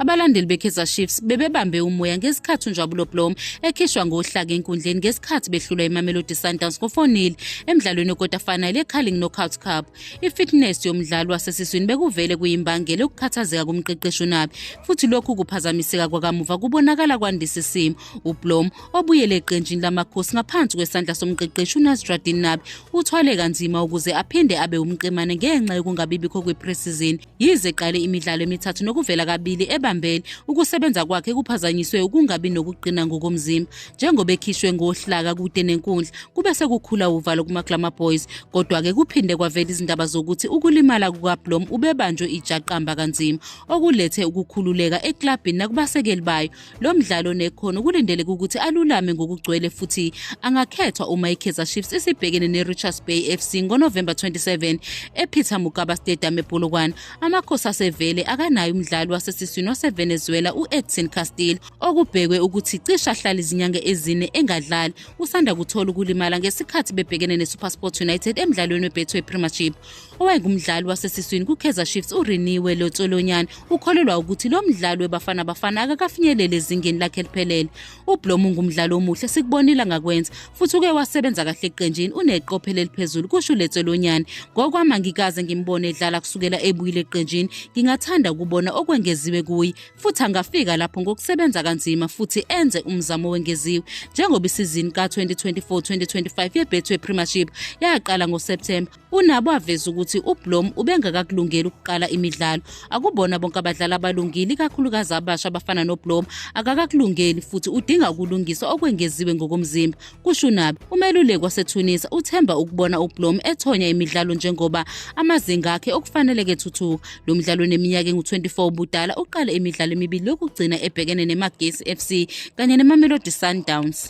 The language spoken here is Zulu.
Abalandeli beKaizer Chiefs bebebambe umoya ngesikhathi uNjabulo Blom ekhishwa ngohlaka enkundleni ngesikhathi behlulwa iMamelodi Sundowns ngo-4-0 emdlalweni wekota final yeCarling Knockout Cup. I-fitness yomdlali wasesiswini bekuvele kuyimbangela ukukhathazeka kumqeqeshi uNabi futhi lokhu kuphazamiseka kwakamuva kubonakala kwandisa isimo. UBlom obuyele eqenjini lamakhosi ngaphansi kwesandla somqeqeshi unasradin nabi uthwale kanzima ukuze aphinde abe umqemane ngenxa yokungabibikho kwepresizini yize eqale imidlalo emithathu nokuvela kabili ebambene ukusebenza kwakhe kuphazanyiswe ukungabi nokuqina ngokomzimba njengoba ekhishwe ngohlaka kude nenkundla kube sekukhula uvalo kumaglamour boys kodwa-ke kuphinde kwavela izindaba zokuthi ukulimala kukablom ubebanjwe ijaqamba kanzima okulethe ukukhululeka eklabhini nakubasekeli bayo Lo mdlalo nekhono kulindeleke ukuthi alulame ngokugcwele futhi angakhethwa uma iKaizer Chiefs isibhekene neRichards Bay FC ngoNovemba 27 ePeter Mokaba Stadium ePolokwane. Amakhosi asevele akanayo umdlali wasesiswini waseVenezuela u-Edson Castillo okubhekwe ukuthi cishe ahlala izinyanga ezine engadlali. Usanda kuthola ukulimala ngesikhathi bebhekene neSuperSport United emdlalweni weBetway Premiership. Owayengumdlali wasesiswini kuKaizer Chiefs uRiniwe Lotsolonyane ukholelwa ukuthi lo mdlali weBafana Bafana akakafinyelele ezingeni lakhe eliphelele. UBlom ungumdlali omuhle sikubonile ngakwenza futhi uke wasebenza kahle eqenjini uneqophelo eliphezulu kusho uLetsolonyane. Ngokwami angikaze ngimbone edlala kusukela ebuyile eqenjini. Ngingathanda ukubona okwengeziwe kuye futhi angafika lapho ngokusebenza kanzima futhi enze umzamo wengeziwe njengoba isizini ka-2024-2025 yeBetway Premiership yaqala ngoSepthemba UNabo aveza ukuthi uBlom ubengakakulungeli ukuqala imidlalo. Akubona bonke abadlali abalungile, ikakhulukazi abasha abafana noBlom. Akakakulungeli futhi udinga ukulungiswa okwengeziwe ngokomzimba, kusho uNabi. Umeluleki waseTunisa uthemba ukubona uBlom ethonya imidlalo njengoba amazinga akhe okufaneleke thuthuka. Lo mdlalo oneminyaka engu-24 ubudala uqale imidlalo emibili yokugcina ebhekene neMagesi FC kanye neMamelodi Sundowns.